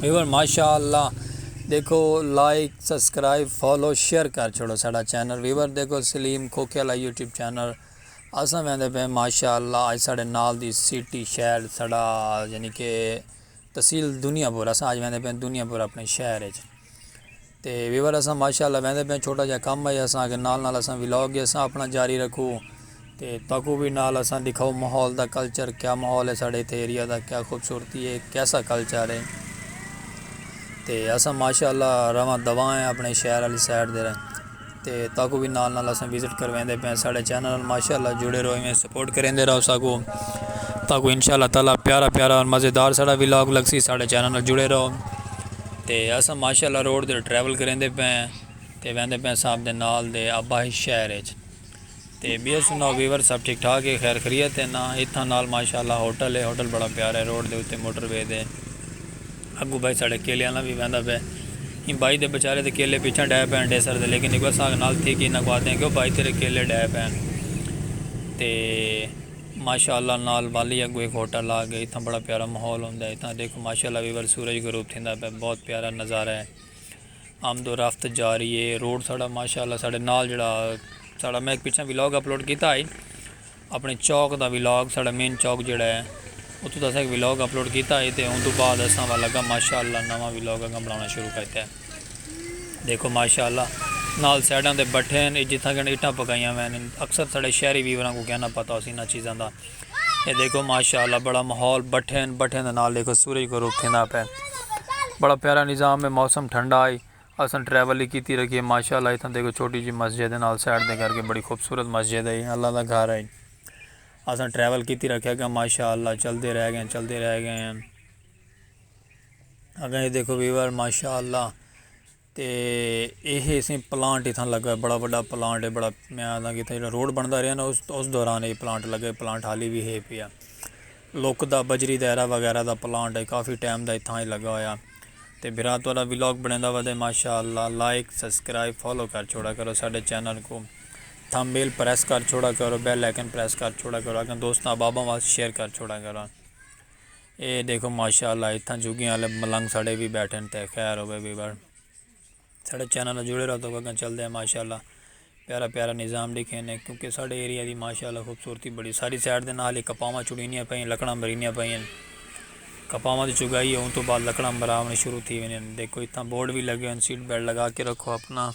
Viewer ماشاء اللہ دیکھو لائک سبسکرائب فالو شیئر کر چھوڑو ساڑا چینل ویور دیکھو سلیم کھوکے والا یوٹیوب چینل اساں ویندے پہ ماشاء اللہ اج ساڑے نال دی سٹی شہر ساڑا یعنی کہ تحصیل دنیا پور اساں اج ویندے پہ دنیا پور اپنے شہر اچ تے ویور اساں ماشاءاللہ ویندے پیاں چھوٹا جیہا کم ہے اساں اگے نال نال اساں ولاگ وی اساں اپنا جاری رکھو تے تہاکوں وی نال اساں ڈکھاؤ ماحول دا کلچر کیا ماحول ہے ساڈے اتھے ایریا دا کیا خوبصورتی ہے کیسا کلچر ہے تے اساں ماشاءاللہ رواں دواں ہیں اپنے شہر آلی سائیڈ دے۔ تے تاکوں وی نال نال اساں وزٹ کرویندے پئے ساڈے چینل نال ماشاءاللہ جڑے رہو ایویں سپورٹ کریندے رہو ساکوں تاکوں انشاءاللہ تعالی پیارا پیارا اور مزیدار ساڈا ولاگ لگسی ساڈے چینل نال جڑے رہو تے اساں ماشاءاللہ روڈ تے ٹریول کریندے پئے تے ویندے پئے ساں اپنے نال دے آبائی شہر اچ تے بیئر سناؤ ویور سب ٹھیک ٹھاک ہے خیر خریت ہے نا اتھاں نال ماشاءاللہ ہوٹل ہے ہوٹل بڑا پیارا ہے روڈ دے اتے موٹر وے دے اگوں بھائی ساڑے کیلے آلا وی ویندا پے ایں بھائی دے بچارے دے کیلے پیچھاں ڈے پے ہن ڈیسر دے لیکن اک وساگ نال تھی کہ انہاں کو آدھے ہیں کیوں بھائی تیرے کیلے ڈے پے ہن تے ماشاءاللہ نال والی اگوں ایک ہوٹل آ گئے اتھاں بڑا پیارا ماحول ہوندا ہے اتھاں دیکھو ماشاءاللہ ویور سورج غروب تھیندا پے بہت پیارا نظارہ ہے۔ آمد و رفت جاری ہے روڈ ساڑا ماشاءاللہ ساڑے نال جڑا ساڑا میں پچھا ویلاگ اپلوڈ کیتا ہے اپنے چوک دا ویلاگ ساڑا مین چوک جڑا ہے اتو دا ساڑا ویلاگ اپلوڈ کیتا ہے تے ان دو بعد اساں والا گا ماشاءاللہ نوا ویلاگ اگا بنانا شروع کرتا ہے دیکھو ماشاءاللہ نال سیڈان دے بٹھے ہیں جتھا گن اٹھا پکائیاں ہیں اکثر ساڑے شہری ویوران کو کہنا پتا ہو سی نا چیزاں دا اے دیکھو ماشاءاللہ بڑا ماحول بٹھیں بٹھیں دے نال دیکھو سورج غروب تھیندا پے بڑا پیارا نظام ہے موسم ٹھنڈا ہے اساں ٹریول ہی کیتی رکھیے ماشاءاللہ اتھاں دیکھو چھوٹی جی مسجد ہے نال سائڈ دے کر کے بڑی خوبصورت مسجد ہے اللہ دا گھر ہے اساں ٹریول کیتی رکھیا گا ماشاءاللہ چل دے رہ گئے چل دے رہ گئے اگے دیکھو ویور ماشاءاللہ تے ایہ اسیں پلانٹ اتھاں لگا ہے بڑا بڑا پلانٹ ہے بڑا میں آندھا کہ اتھاں جڑا روڈ بندا رہیا نا اس دوران ایہ پلانٹ لگا ہے پلانٹ حالی بھی ہے پیا لوک دا بجری دائرہ وغیرہ دا پلانٹ ہے کافی ٹائم دا اتھاں ہی لگا ہویا تے بھرا توڑا ولاگ بنے دا ودے ماشاء اللہ لائک سبسکرائب فالو کر چھوڑا کرو ساڈے چینل کو تھم بیل پریس کر چھوڑا کرو بیل لیکن پریس کر چھوڑا کرو اگر دوستاں بابا واس شیئر کر چھوڑا کرو اے ڈیکھو ماشاء اللہ اتھاں جھگیاں والے ملنگ ساڑے وی بیٹھن تے خیر ہووے وی بر ساڑے چینل نال جڑے رہو تو اگاں چلدے ہیں ماشاء اللہ پیارا پیارا نظام ڈیکھے نے کیونکہ ساڑے ایریا دی ماشاء اللہ خوبصورتی بڑی ساری سائڈ دے نال ہی کپاواں چڑینیاں پئیں لکڑاں مرینیاں پئیں ہیں کپاواں دی چگائی ہے ان تو بعد لکڑاں مراونی شروع تھی ویندی ہیں دیکھو اتھاں بورڈ وی لگے ہیں سیٹ بیلٹ لگا کے رکھو اپنا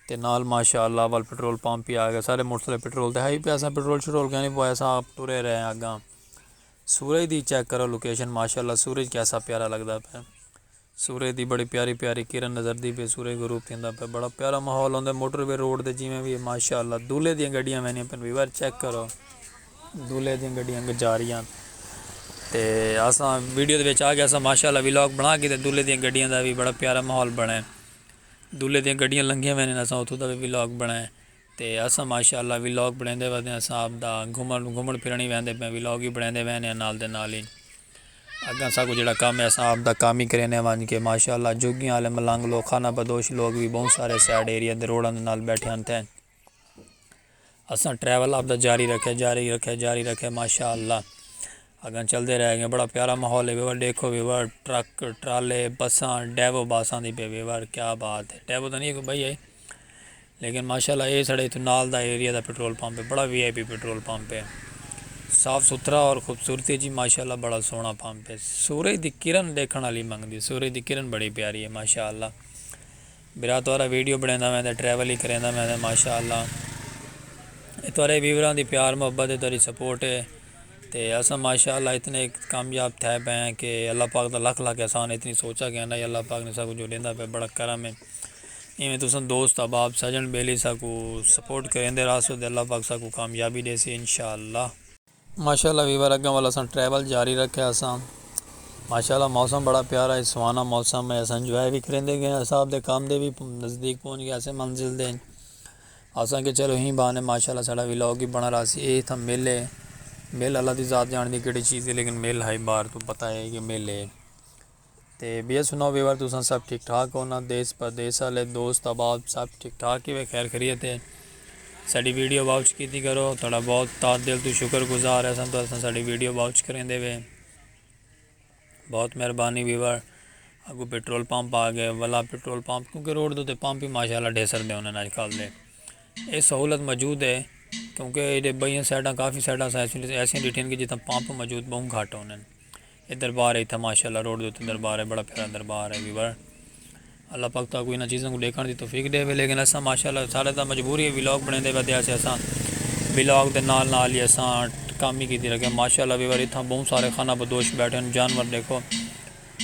تے نال ماشاء اللہ ول پٹرول پمپ ہی آ گئے سارے موٹر سائیکل پٹرول تے ہائی پہ اساں پٹرول شٹرول کہیں نہیں پوایا اساں آپ ٹرے رہے ہیں اگاں سورج دی چیک کرو لوکیشن ماشاءاللہ سورج کیسا پیارا لگدا پے سورج دی بڑی پیاری پیاری کرن نظر دی پے سورج غروب تھیندا پے بڑا پیارا ماحول ہوندے موٹر وے روڈ دے جویں وی ماشاءاللہ دولے دیاں گڈیاں ویندیاں پن ویور چیک کرو دولے دیاں گڈیاں گجاریاں تے اساں ویڈیو دے وچ آ گیا اساں ماشاءاللہ ویلاگ بنا کے تے دولے دیاں گڈیاں دا وی بڑا پیارا ماحول بنائے دولے دیاں گڈیاں لنگیاں ویندیاں اساں اتھوں دا وی ویلاگ بنائے تے اساں ماشاءاللہ ولاگ بنڑیندے ودے آں صاحب دا گھمن گھمن پھرن ہی ویندے پے آں ولاگ ہی بنڑیندے ویندے آں نال دے نال ہی اگاں اساکوں جیڑا کم ہے اساں آپ دا کم ہی کریندے آں ونج کے ماشاءاللہ جھگیاں آلے ملنگ لوگ خانہ بدوش لوگ وی بہوں سارے سائیڈ ایریاں دے روڈاں دے نال بیٹھے ہن تھے اساں ٹریول آپ دا جاری رکھے جاری رکھے جاری رکھے ماشاءاللہ اگاں چلدے رہ گئے بڑا پیارا ماحول ہے ویور ڈیکھو ویور ٹرک ٹرالے بساں ڈیوو باساں دی پے ویور کیا بات ہے ڈیوو تاں نہیں ہے کوئی بھائی ہے لیکن ماشاءاللہ اے ساڑے اتھوں نال دا ایریا دا پٹرول پمپ ہے بڑا V I P petrol pump ہے صاف ستھرا اور خوبصورتی جی ماشاءاللہ بڑا سونا پمپ ہے سورج دی کرن ڈیکھن والی منگدی سورج دی کرن بڑی پیاری ہے ماشاءاللہ برا تہاڈا ویڈیو بنیندا میں تے ٹریول ہی کریندا میں تے ماشاءاللہ اے تہاڈے ویوراں دی پیار محبت ہے تہاڈی سپورٹ ہے تے اساں ماشاءاللہ اتنے کامیاب تھے پئے ہیں کہ اللہ پاک دا لکھ لکھ احسان اتنی سوچا کہ اللہ پاک نے سب کچھ جو ڈیندا پئے بڑا کرم ہے ایویں تساں دوست احباب سجن بیلی ساکو سپورٹ کریندے راہسو تے اللہ پاک ساکو کامیابی ڈیسی انشاءاللہ۔ ماشاءاللہ ویور اگاں ول اساں ٹریول جاری رکھیا اساں ماشاءاللہ موسم بڑا پیارا ہے سہانا موسم ہے اساں انجوائے وی کریندے گئے اساں آپ دے کام دے وی نزدیک پہنچ گئے اساں منزل دے اساں کہ چلو ہی بہانے ماشاءاللہ ساڈا ولاگ وی بنا رہا سی اے تھا مل ہے مل اللہ دی ذات جانتی کیڑی چیز ہے لیکن مل ہائی بار تو پتا ہے کہ مل ہے۔ تے بیا سناؤ ویور تساں سب ٹھیک ٹھاک ہو نا دیس پردیس والے دوست احباب سب ٹھیک ٹھاک ہی وے خیر خریت ہے ساڈی ویڈیو واچ کیتی کرو تھوڑا بہت تار دل تو شکر گزار ہے سن تو اساں ساڈی ویڈیو واچ کریں دے وے بہت مہربانی ویور اگو پیٹرول پمپ آ گئے ولا پیٹرول پمپ کیونکہ روڈ دو تے پمپ ہی ماشاءاللہ ڈھیسر دے انہاں اج کل دے اے سہولت موجود ہے کیونکہ ایڈے بئیاں سائیڈاں کافی سائیڈاں ایسی ڈیٹھن کہ جتھاں پمپ موجود بہوں گھٹ ہونن اے دربار ہے اتھاں ماشاءاللہ روڈ دے اتے دربار ہے بڑا پیارا دربار ہے ویور اللہ پاک تہاکوں انہاں چیزاں کوں ڈیکھن دی توفیق ڈیوے لیکن اساں ماشاءاللہ ساڈا تاں مجبوری ہے ولاگ بنیندے پے تیاں اساں ولاگ دے نال نال ہی اساں کام ہی کیتی رکھے ماشاءاللہ ویور اتھاں بہوں سارے خانہ بدوش بیٹھے ہیں جانور دیکھو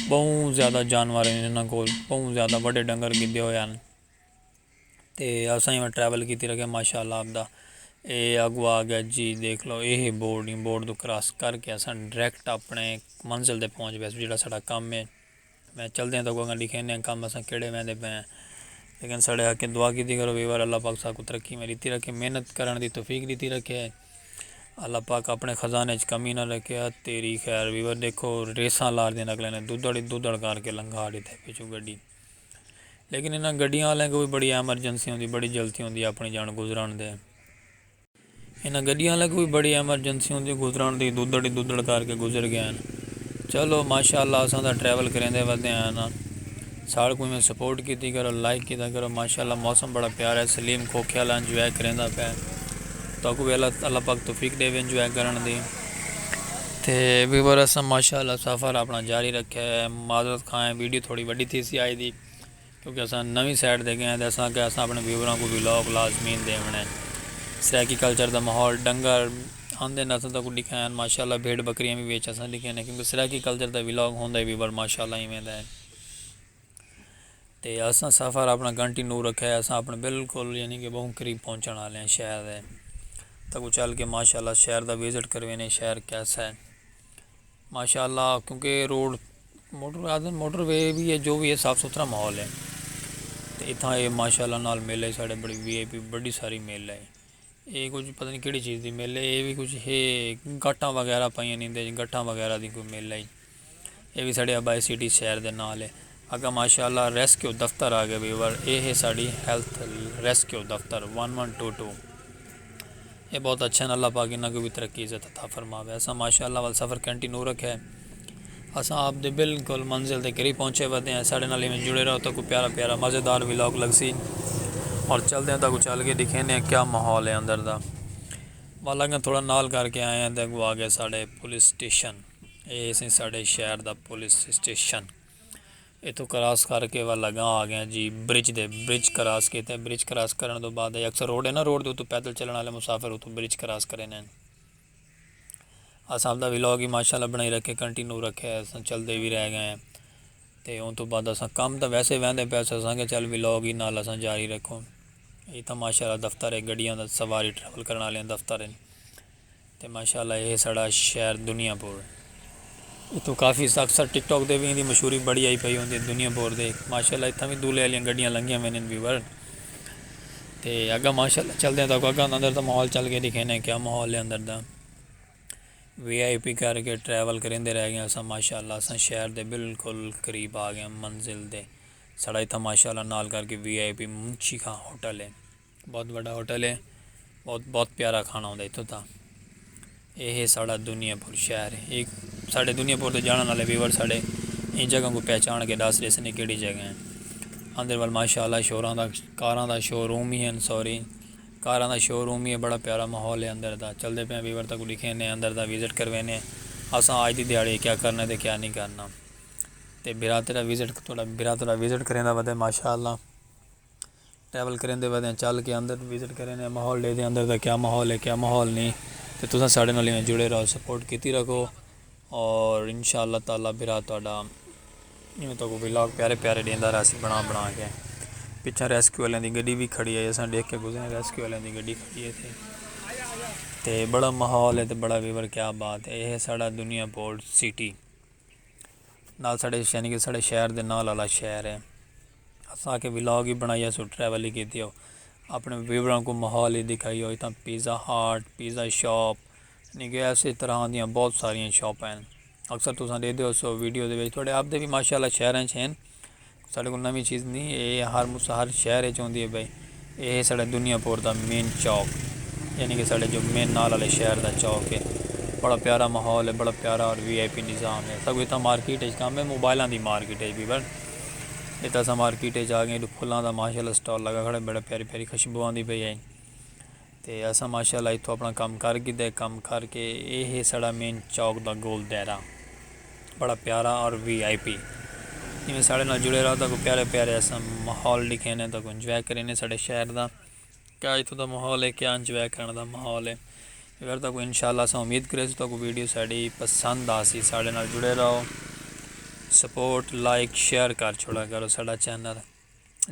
بہوں زیادہ جانور ہیں انہاں کول بہوں زیادہ وڈے ڈنگر گھدے ہوئے ہیں تے اساں ایویں ٹریول کیتی رکھے ماشاء اللہ آپ دا اے اگو آ گیا جی دیکھ لو اے ہے بورڈ نی بورڈ تو کراس کر کے اساں ڈریکٹ اپنے منزل تے پہنچ گئے جیڑا ساڈا کم ہے میں چلدے ہیں تو اگاں ڈیکھینے ہیں کم اساں کیڑے ویندے پئے ہیں لیکن ساڈے حق اچ دعا کیتی کرو ویور اللہ پاک ساکوں ترقی میں ڈتی رکھے محنت کرن دی توفیق ڈتی رکھے اللہ پاک اپنے خزانے اچ کمی نہ رکھے ات تیری خیر ویور دیکھو ریساں لاردیں اگلے نے دودڑ ہی دودڑ کر کے لنگھا ڈتے پچھوں گڈی لیکن انہاں گڈیاں آلیاں کوں وی بڑی ایمرجنسی ہوندی بڑی جلتی ہوندی اپنی جان گزران دے انہاں گڈیاں آلیاں کوں وی بڑی ایمرجنسی ہوندی گزران دی دودڑ ہی دودڑ کر کے گزر گئے ہن چلو ماشاءاللہ اساں تاں ٹریول کریندے ودے آئے ہاں ساڑھ کوں ایویں سپورٹ کیتی کرو لائک کیتا کرو ماشاءاللہ موسم بڑا پیارا ہے سلیم کوکھے والا انجوائے کریندا پیا تہاکوں وی اللہ پاک توفیق دے وے انجوائے کرن دی. تے وی ور اساں ماشاءاللہ سفر اپنڑاں جاری رکھیا ہے معذرت خواں ہیں ویڈیو تھوڑی وڈی تھیسی آج دی کیونکہ اساں نویں سائٹ تے گئے ہیں تے اساں آکھیا اساں اپنڑے ویوراں کوں ولاگ لازمین ڈیونڑ ہے سرائیکی کلچر دا ماحول ڈنگر آندے ناں اساں تاں کوں ڈکھایا ہیں ماشاءاللہ بھیڈ بکریاں وی وچ اساں ڈکھیاں ہیں کیونکہ سرائیکی کلچر دا ولاگ ہوندا ہے وی ور ماشاءاللہ ایویں دا ہے۔ تے اساں سفر اپنا گھنٹی نو رکھا ہے اساں اپنے بالکل یعنی کہ بہوں قریب پہنچن آلے ہیں شہر دے تاں کو چل کے ماشاءاللہ شہر دا وزٹ کروینے شہر کیسا ہے ماشاءاللہ کیونکہ روڈ موٹر وے بھی ہے جو بھی ہے صاف ستھرا ماحول ہے تو اتھاں اے ماشاءاللہ نال میلہ ہے ساڑے بڑی وی آئی پی بڑی ساری میلہ ہے اے کچھ پتہ نہیں کیڑی چیز دی میلہ ہے اے بھی کچھ ہے گھٹاں وغیرہ پائیاں نہیں دے گھٹاں وغیرہ دی کوئی میلہ ہے. اے وی ساڈے آبائی سٹی شہر دے نال اے۔ اگاں ماشاء اللہ ریسکیو دفتر آ گئے ویور اے ہے ساڈی ہیلتھ ریسکیو دفتر ون ون ٹو ٹو اے بہت اچھے ہن اللہ پاک انہاں کوں وی ترقی عزت عطا فرماوے اساں ماشاء اللہ ول سفر کنٹینو رکھیا ہے اساں آپ دے بالکل منزل دے قریب پہنچے ودے ہیں ساڈے نال ایویں جڑے رہو تہاکوں پیارا پیارا مزیدار ولاگ لگسی اور چلدے ہیں تہاکوں چل کے ڈکھیندے ہیں کیا ماحول ہے اندر دا ول اگاں تھوڑا نال کر کے آئے ہیں تے اگوں آ گئے ساڈے پولیس سٹیشن۔ اے سی ساڑے شہر دا پولیس اسٹیشن اتو کراس کر کے وا لگا آ گیا جی برج دے برج کراس کیتے برج کراس کرن تو بعد اکثر روڈ ہے نا روڈ دے اتو پیدل چلن والے مسافر اتو برج کراس کرے نے اساں دا ویلاگ ہی ماشاءاللہ بنائی رکھے کنٹینیو رکھے اساں چل دے وی رہ گئے تے اون تو بعد اساں کم دا ویسے ویندے پے اساں سانگے چل ویلاگ ہی نال اساں جاری رکھو ایتھا ماشاءاللہ دفتر ہے گڈیاں دا سواری ٹریول کرن والے دفتر ہیں تے ماشاءاللہ اے ساڑا شہر دنیا پور ہے۔ اتھوں کافی اکثر ٹک ٹاک دے وی ایندی مشہوری بڑی آئی پئی ہوندی ہے دنیا پور دے ماشاءاللہ اتھاں وی دولے آلیاں گڈیاں لنگیاں ویندین پی ور تے اگاں ماشاءاللہ چلدے تاکوں اگاں دا اندر دا ماحول چل کے دکھینے کیا ماحول ہے اندر دا وی آئی پی کر کے ٹریول کریندے رہ گیاں اساں ماشاءاللہ اساں شہر دے بالکل قریب آ گیاں منزل دے ساڑا اتھاں ماشاءاللہ نال کر کے وی آئی پی منشی خان ہوٹل ہے۔ بہت وڈا ہوٹل ہے بہت بہت پیارا کھانا ہوندا اتھوں تا یہ ہے ساڑا دنیا پور شہر ہے ایک ساڑے دنیا پور تو جانا والے ویور ساڑے ان جگہ کو پہچان کے دس رہے سنے کیڑی جگہ ہیں اندر وال ماشاءاللہ شوراں دا کاراں دا شو روم ہی ہیں سوری کاراں دا شو روم ہی ہے بڑا پیارا ماحول ہے اندر دا چلتے پہ ویور تک لکھے نے اندر دا وزٹ کروے نے اساں آج دی دیہڑے کیا کرنا تے کیا نہیں کرنا تے براترا وزٹ تھوڑا براترا وزٹ کریں دا ودے ماشاءاللہ ٹریول کریں دے ودیں چل کے اندر وزٹ کریں دے ماحول دے دے اندر دا کیا ماحول ہے کیا ماحول نہیں تے تساں ساڑے نال ایویں جڑے رہو سپورٹ کیتی رکھو اور انشاءاللہ تعالی برا تہاڈا ایویں تو کو ولاگ پیارے پیارے دیندا رہا سی بنا بنا کے پیچھے ریسکیو والے دی گڈی بھی کھڑی ہے اساں دیکھ کے گزرے ریسکیو والے دی گڈی کھڑی ہے تھی تے بڑا ماحول ہے تے بڑا ویور کیا بات ہے یہ ساڑا دنیا پورٹ سٹی نال ساڑے یعنی کہ ساڑے شہر دے نال والا شہر ہے اساں آکھیا ولاگ ہی بنڑائی اسو ٹریول ہی کیتی او اپنے ویوراں کو ماحول ہی دکھائی او اتھاں پیزا ہاٹ پیزا شاپ یعنی کہ ایسے طرح دیاں بہت ساریاں شاپ ہیں اکثر تساں دے دیو سو ویڈیو دے وچ تھوڑے آپ دے بھی ماشاءاللہ شہراں چ ہیں ساڈے کو نوی چیز نہیں اے ہر مسا ہر شہر اچ ہوندی ہے بھائی اے ہے ساڑے دنیا پور دا مین چوک یعنی کہ ساڑے جو مین نال آلے شہر دا چوک ہے بڑا پیارا ماحول ہے بڑا پیارا اور وی آئی پی نظام ہے ساگو اتھاں مارکیٹ اچ کم ہے موبائلاں دی مارکیٹ اچ بھی بن اتھاں اساں مارکیٹ اچ آگئے پھلاں دا ماشاءاللہ سٹال لگا کھڑا بڑا پیاری پیاری خشبو آندی پئی ہے۔ تے اساں ماشاءاللہ اتھوں اپنڑاں کم کر گھدے کم کر کے اے ہے ساڑا مین چوک دا گول دائرہ بڑا پیارا اور وی آئی پی جیویں ساڑے نال جڑے رہو تاکوں پیارے پیارے اساں ماحول ڈکھینے تاکوں انجوائے کرینے ساڑے شہر دا کیا اتھوں دا ماحول ہے کیا انجوائے کرن دا ماحول ہے اگر تاکوں انشاءاللہ اساں امید کریسوں تاکوں ویڈیو ساڑی پسند آسی ساڑے نال جڑے رہو سپورٹ لائک شیئر کر چھوڑا کرو ساڑا چینل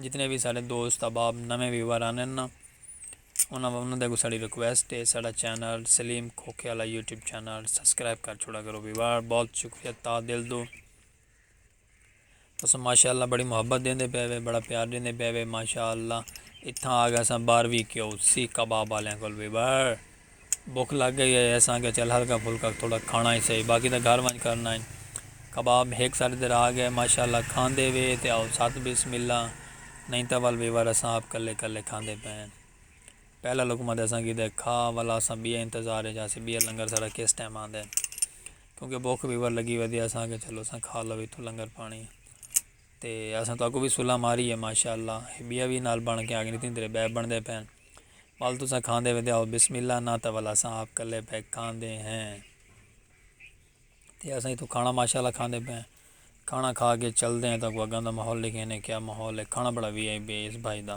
جتنے بھی ساڑے دوست احباب نویں ویور آنن نا انہاں دے اگوں ساڈی ریکویسٹ اے ساڈا چینل سلیم کھوکھے آلا یوٹیوب چینل سبسکرائب کر چھوڑا کرو ویوار بہت شکریہ تا دل دو تساں ماشاءاللہ بڑی محبت دیندے پے وے بڑا پیار دیندے پے وے ماشاءاللہ اتھاں آ گئے اساں باروی کیو سی کباب آلیاں کول ویوار بکھ لگ گئی ہئی اساں آکھیا چل ہلکا پھلکا تھوڑا کھانا ای سہی باقی تاں گھر ونج کرنا ای۔ کباب ہک ساڈے دے راہ گئے ماشاء اللہ کھاندے وے تے آؤ ست بسم اللہ نئیں تاں ول ویور اساں آپ کلے کلے کھاندے پئے ہن۔ پہلا لقمہ تے اساں کیتے کھا ول اساں بئے انتظار اچ ہاسے بئے لنگر ساڈا کس ٹائم آندے کیونکہ بکھ ویور لگی ودی اساں آکھیا چلو اساں کھا لو اتھوں لنگر پانی۔ تے اساں تہاکوں وی سلہہ ماری ہے ماشاءاللہ ہے بیا وی نال بن کے آگے تین تیرے بے بندے پین بل تساں کھاندے ویندے ہو بسم اللہ نہ تول اساں آپ کلے پے کھاندے ہیں تے اساں تو کھانا ماشاءاللہ کھاندے پے کھانا کھا کے چل دے ہیں تاکہ اگاں دا ماحول لکھیں کیا ماحول ہے کھانا بڑا وی آئی بی ہے اس بھائی دا۔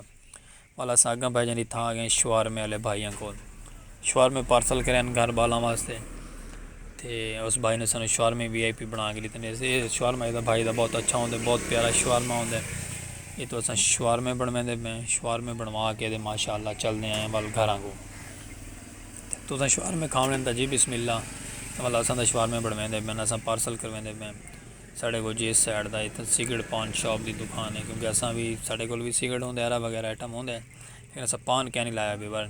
ول اساں اگاں بھیجݨ دی تھاں گئیں شوارمے آلے بھائیاں کول۔ شوارمے پارسل کرے ہن گھر ٻالاں واسطے تے اس بھائی نے سانوں شوارمے وی آئی پی بݨا کے ݙتے نے۔ اے شوارمہ ایہ دا بھائی دا بہت اچھا ہوندے بہت پیارا شوارمہ ہوندے۔ ایتھوں اساں شوارمے بݨویندے پئے ہیں۔ شوارمے بݨوا کے تے ماشاءاللہ چلدے آئے ہیں ول گھراں کوں۔ تساں شوارمے کھاوݨ آئے ہیں تاں جی بسم اللہ۔ ول اساں تاں شوارمے بݨویندے پئے ہیں اساں پارسل کرویندے پئے ہیں۔ ساڈے کول جیس سائیڈ دا اتھاں سگریٹ پان شاپ دی دکان ہے کیونکہ اساں وی ساڈے کول وی سگریٹ ہوندے ارا وغیرہ آئٹم ہوندے لیکن اساں پان کینی لایا بے بر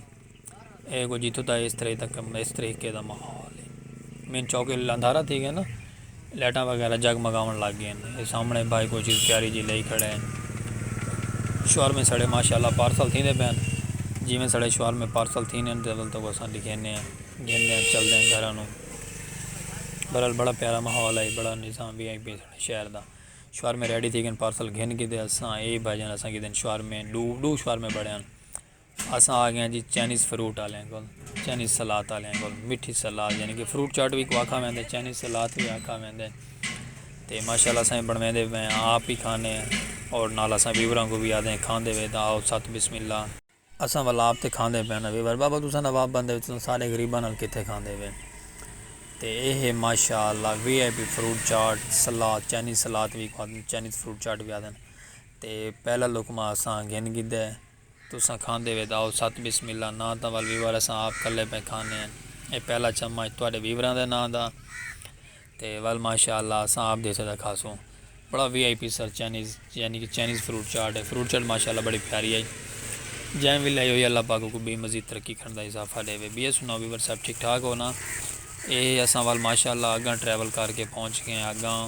اے کو جیتھوں دا اس طرح تک اس طریقے دا ماحول ہے مین چوک اندھارا تھی گئے نا لائٹاں وغیرہ جگ مگاون لگ گئے ہیں سامنے بھائی کوئی چیز پیاری جی لئی کھڑے ہیں شوہر میں سڑے ماشاءاللہ پارسل تھی دے پین جی میں سڑے شوہر میں پارسل تھی نے تو اساں لکھینے ہیں گھن دے ہیں چل دے ہیں گھرانوں بہرحال بڑا پیارا ماحول ہئی بڑا نظام وی ہئی پی ساڑے شہر دا شورمے ریڈی تھی گن پارسل گھن کیتے اساں اے بھائی جان اساں کیتے شورمے ڈو ڈو شورمے بڑے ہن اساں آ گئے جی چائنیز فروٹ آلے کول چائنیز سلاد آلے کول مٹھی سلاد یعنی کہ فروٹ چاٹ وی کو آکھا ویندے چائنیز سلاد وی آکھا ویندے تے ماشاءاللہ اساں بن ویندے میں آپ ہی کھانے اور نال اساں ویوراں کو بھی آدے کھاندے وے دا آؤ ساتھ بسم اللہ اساں ولاپ تے کھاندے پئے ناں ویور بابا تساں نواب بندے ہو تساں سارے غریباں نال کتھے کھاندے وے تے اے ہے ماشاء اللہ V I P fruit chaat salad Chinese salad وی کھادن چائنیز فروٹ چاٹ وی آدن تے پہلا لقمہ اساں گھن گھدا ہے تساں کھاندے وے تے آؤ ساتھ بسم اللہ ناں تاں ول ویور اساں آپ کلے پئے کھانے ہیں اے پہلا چمچ تہاڈے ویوراں دے ناں دا تے ول ماشاء اللہ اساں آپ دیسے دا کھاسوں بڑا V I P sir Chinese یعنی کہ چائنیز فروٹ چاٹ ہے فروٹ چاٹ ماشاء اللہ بڑی پیاری آئی جائیں وی لائی ہوئی اللہ پاک کو بے مزید ترقی کرن دا اضافہ دے وے بی سناؤ ویور صاحب ٹھیک ٹھاک ہو نا اے اساں ول ماشاء اللہ اگاں ٹریول کر کے پہنچ گئے اگاں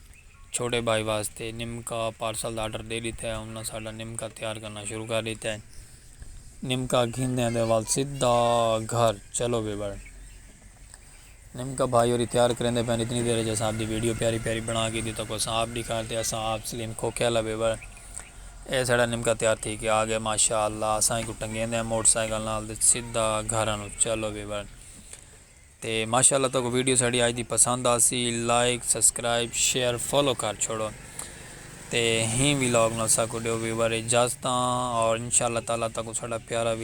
چھوٹے بھائی واسطے نمکا پارسل دا آرڈر ݙے ݙتا ہے انہاں ساݙا نمکا تیار کرݨا شروع کر ݙتا ہے نمکا گھندیاں دے ول سدھا گھر چلو وی بڑ نمکا بھائی ہوری تیار کریندے پئے اتنی دیر جیسا آپ دی ویڈیو پیاری پیاری بنا کے دی تکو ساں آپ دی کار تے اساں آپ سلیم کھوکھے والا وی بڑ اے ساݙا نمکا تیار تھی کے آ گئے ماشاءاللہ اساں ایکوں ٹنگیندے ہیں موٹر سائیکل نال تے سدھا گھر انوں چلو وی بڑ۔ تے ماشاء اللہ تہاکوں ویڈیو ساڈی اج دی پسند آسی لائک سبسکرائب شیئر فالو کر چھوڑو تے ہیں وی لاگ نال ساکوں ڈیو ویور اجازتاں اور انشاء اللہ تعالی تہاکوں ساڈا پیارا وی۔